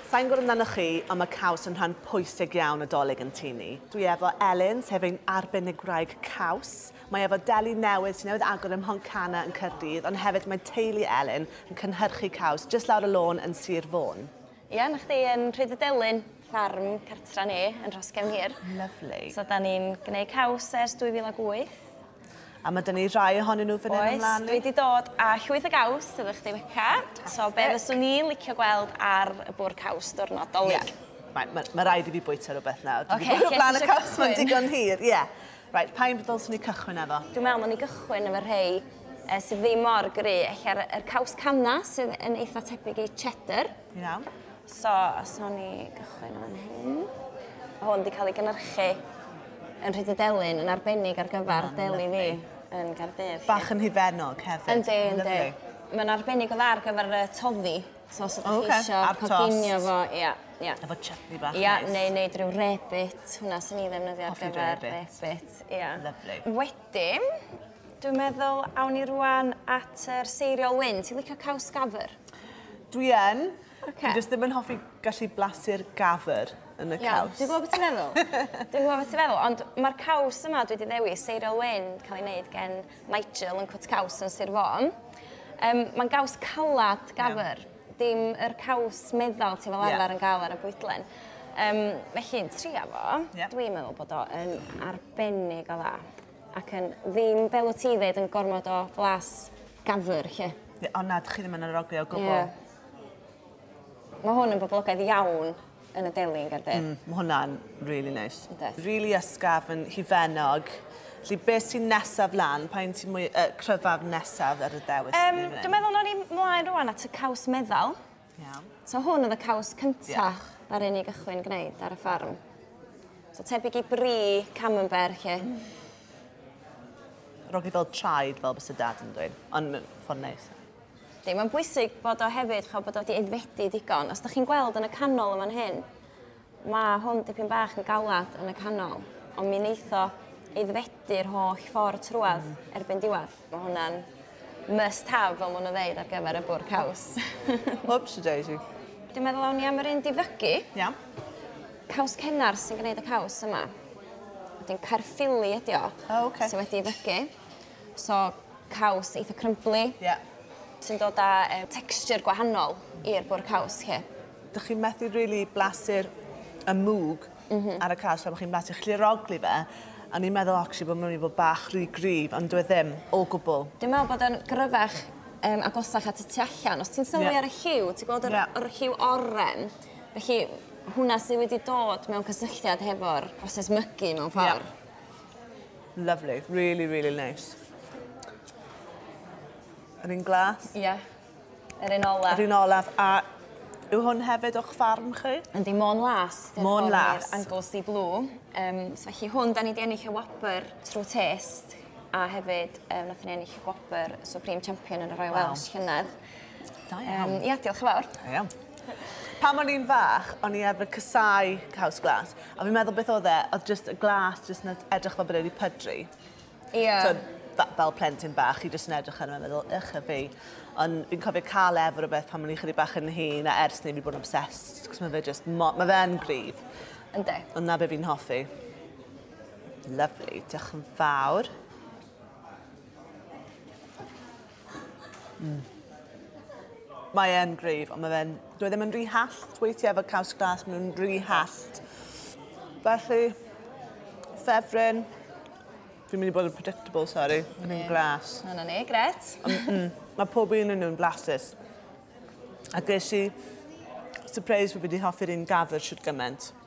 Sa i'n gwybod amdanoch chi, ond mae caws yn rhan pwysig iawn o 'Dolig yn Tŷ Ni. Dwi efo Elin, sef ein arbennig gwraig caws. Mae efo deli newydd sy'n newydd agor ym Mhontcanna yn Caerdydd, ond hefyd mae teulu Elin yn cynhyrchu caws jyst lawr y lôn yn Sir Fôn. Ia, 'na chdi, yn Rhydydelyn, ffarm cartra ni yn Rhoscefn Hir. Lyfli. So 'dan ni'n gneud caws ers 2008. A ma' 'da ni rhai ohonyn nhw fan hyn ymlaen. Oes, dwi 'di dod â llwyth o gaws iddo chdi Beca. Fantastic. So be' fyswn i'n licio gweld ar y bwr' caws diwrnod Dolig? Ie. Right, ma' ma' raid i fi bwyta rwbeth nawr. Ocê, lle ti isio cychwyn? Dwi 'di bod o flan y caws 'ma'n digon hir, ie. Right, pa un ddylswn i cychwyn efo? Dwi'n me'wl nawn ni gychwyn efo rhei yy sydd ddim mor gry', ella'r yr caws canna' sydd yn eitha tebyg i cheddar. Ti'n iawn? So, os nawn ni gychwyn fan hyn. Hwn wedi cael ei gynnyrchu yn Rhydydelyn yn arbennig ar gyfer ah, deli fi yn Gardydd. Bach yn hufennog hefyd. Yndi, yndi. Mae'n arbennig o dda ar gyfer y toddi. So os ydych chi okay. eisiau coginio fo, ia. Yeah. Efo chutney bach yeah, nice. Neu wneud rhyw rebit, hwnna sy'n ei ddefnyddio ar gyfer rebit. Ia. Lovely. Wedyn, Dwi'n meddwl, awn ni rwan at yr seiriol wyn. Ti'n licio caws gafr? Dwi yn. Okay. Dwi jyst ddim yn hoffi gallu blasu'r gafr yn y caws. Dwi'n gwybod beth ti'n meddwl. Dwi'n gwybod beth ti'n meddwl, ond mae'r caws yma dwi wedi ddewis, seiriol wyn, cael ei wneud gen Nigel yn cwt caws yn Sir Fôn. Um, Mae'n gaws calad gafr, yeah. dim yr caws meddal ti fel arfer yeah. yn gael ar y bwydlen. Um, felly, yn tria fo, yeah. dwi'n meddwl bod o yn arbennig o dda. Ac yn ddim fel wt ti'n ddeud yn gormod o flas gafr 'lly. Ie o na 'dych chi ddim yn arogli o gwbwl. Ie. Ma' hwn yn boblogaidd iawn yn y deli yn Gaerdydd. Mm ma' hwnna'n rili neis. Yndi. Rili ysgafn yn hufennog. Felly be' sy nesaf lan? Pa un sy mwy yy cryfaf nesaf ar y ddewis? Yym dwi meddwl nawn ni mlaen rŵan at y caws meddal. Iawn. So hwn oedd y caws cyntaf ddaru ni gychwyn gwneud ar y ffarm. So tebyg i bri camembert lle. Rogi fel traed fel bys y dad yn dweud, ond mae'n ffordd neis. Di, mae'n bwysig bod o hefyd, chael bod o wedi aeddfedu digon. Os da chi'n gweld yn y canol yma'n hyn, Mae hwn dipyn bach yn galad yn y canol, ond mi wneith o aeddfedu'r holl ffordd trwad erbyn diwedd. Mae hwnna'n must have, fel maen nhw'n ddeud, ar gyfer y bwrdd caws. Whoops, daisy. Dwi'n meddwl awn ni am yr un difygu. Iawn. Caws cennar sy'n gwneud y caws yma. Wedyn caerffili ydi o. O, oce. Sy wedi ei fygu. So caws eitha crumbly. Ie. Sy'n dod â um, texture gwahanol i'r bwr caws chi. Dych chi'n methu really blasu'r y mwg mm -hmm. ar y caws fel bod chi'n blasu chliroglu fe. A ni'n meddwl actually bod mynd i fod bach rhy gryf, ond dwi e ddim o gwbl. Dwi'n meddwl bod yn gryfach um, agosach at y tu allan. Os ti'n sylwi yeah. ar y lliw, ti'n gweld yr, yeah. yr lliw oren. Felly hwnna sydd wedi dod mewn cysylltiad hefo'r proses mygu mewn ffordd. Yeah. Lovely, really, really nice. Yr un glas? Ie. Yeah. Yr un olaf. Yr un olaf. A yw hwn hefyd o'ch farm chi? Yndi, Môn Las. Môn Las. Anglesey Blue. Um, so felly hwn, da ni wedi ennill y wobr trwy test a hefyd um, nath ni ennill y gwobr Supreme Champion yn y Royal wow. Welsh llynedd. Da iawn. Yym ia diolch yn fawr. Da iawn. Pan o'n i'n fach, o'n i arfer cysau caws glas. A fi'n meddwl beth oedd e, oedd just y glas just yn edrych fel bod e wedi pydru. Ia. T'od, fe- fel plentyn bach, chi just yn edrych arno fe a meddwl, ych a fi. Ond fi'n cofio cael e efo rhywbeth pan o'n i'n chydig bach yn hŷn, a ers 'ny fi bod yn obsessed, cos ma' fe just mo- ma' fe yn gryf. Yndi. Ond 'na be' fi'n hoffi. Lyfli, diolch yn fawr. Mm. Mae e'n gryf, ond mae fe'n... Dwi e ddim yn rhy hallt weithiau efo caws glas, maen nhw'n rhy hallt. Felly, ffefryn, fi'n mynd i bod yn predictable, sori, yn un glas. Yna ni, gret. Mm, mae pob un yn nhw'n flasus. A ges i surprise fi wedi hoffi'r un gafr siwr gymaint.